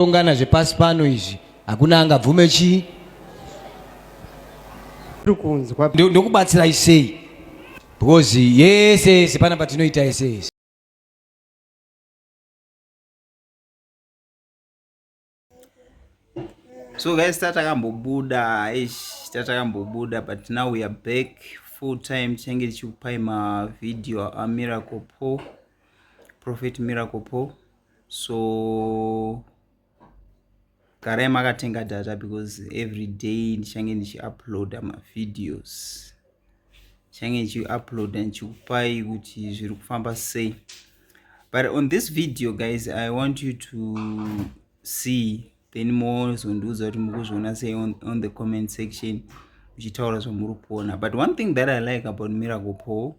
ungana zvepasi pano izvi hakuna angabvume chii ndokubatsirai sei because yese yese pana patinoita yese yese so guys tatakambobuda ish tatakambobuda but now we are back full time tichange tichikupai mavideo amiracle po prophet miracle po so garai makatenga data because every day ndichange ndichiuploada mavideos ndichange ndichiuploada ndichikupai kuti zviri kufamba sei but on this video guys i want you to see then mozondiudza kuti mukuzviona sei on, on the comment section muchitaura zvamuri kuona but one thing that i like about miracle paul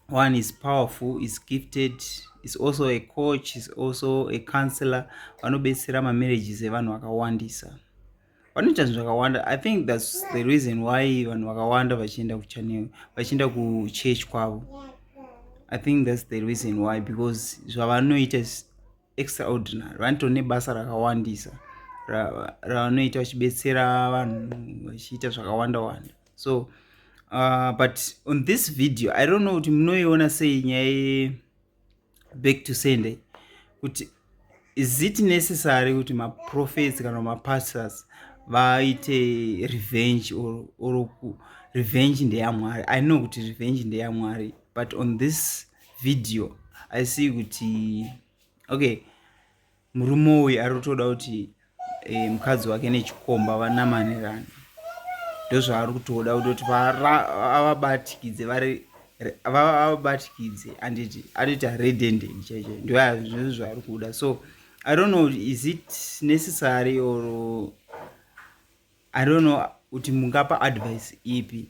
one is powerful is gifted is also a coach is also a counselor vanobetsera mamarriages evanhu vakawandisa vanoita zvinhu zvakawanda i think thats the reason why vanhu vakawanda vachienda kuchanel vachienda kuchurch kwavo i think thats the reason why because zvavanoita extraordinary vanoto nebasa rakawandisa ravanoita vachibetsera vanhu vachiita zvakawanda wanda so uh, but on this video i don't know kuti munoiona sei nyaya back to sunday kuti is it necessary kuti maprofets kana mapastors vaite revenge or, or revenge ndeyamwari i know kuti revenge ndeyamwari but on this video i see kuti okay murume uyu ari kutoda kuti eh, mukadzi wake nechikomba vanamanirana ndozvaari kutoda kutoti avabatikidze vari avabatikidze anditi atoti aredended chaicho ndoazvizvo zvaari kuda so i don't know is it necessary or i don't know kuti mungapa advice ipi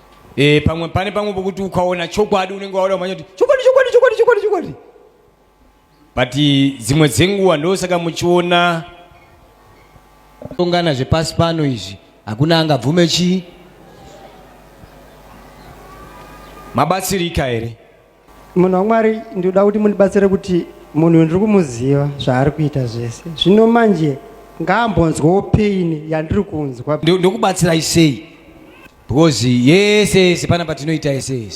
Eh, pamwe pane pamwe pokuti ukaona chokwadi unenge waona kumanya kuti chokwadi chokwadi chokwadi chokwadi chokwadi but dzimwe dzenguva ndosaka muchiona ungana zvepasi pano izvi hakuna angabvume chii mabatsirika here Munhu waMwari ndinoda kuti mundibatsire kuti munhu uyu ndiri kumuziva zvaari kuita zvese zvino manje ngaambonzwawo pain yandiri kunzwa ndokubatsirai sei because yese yese pana patinoita yese yese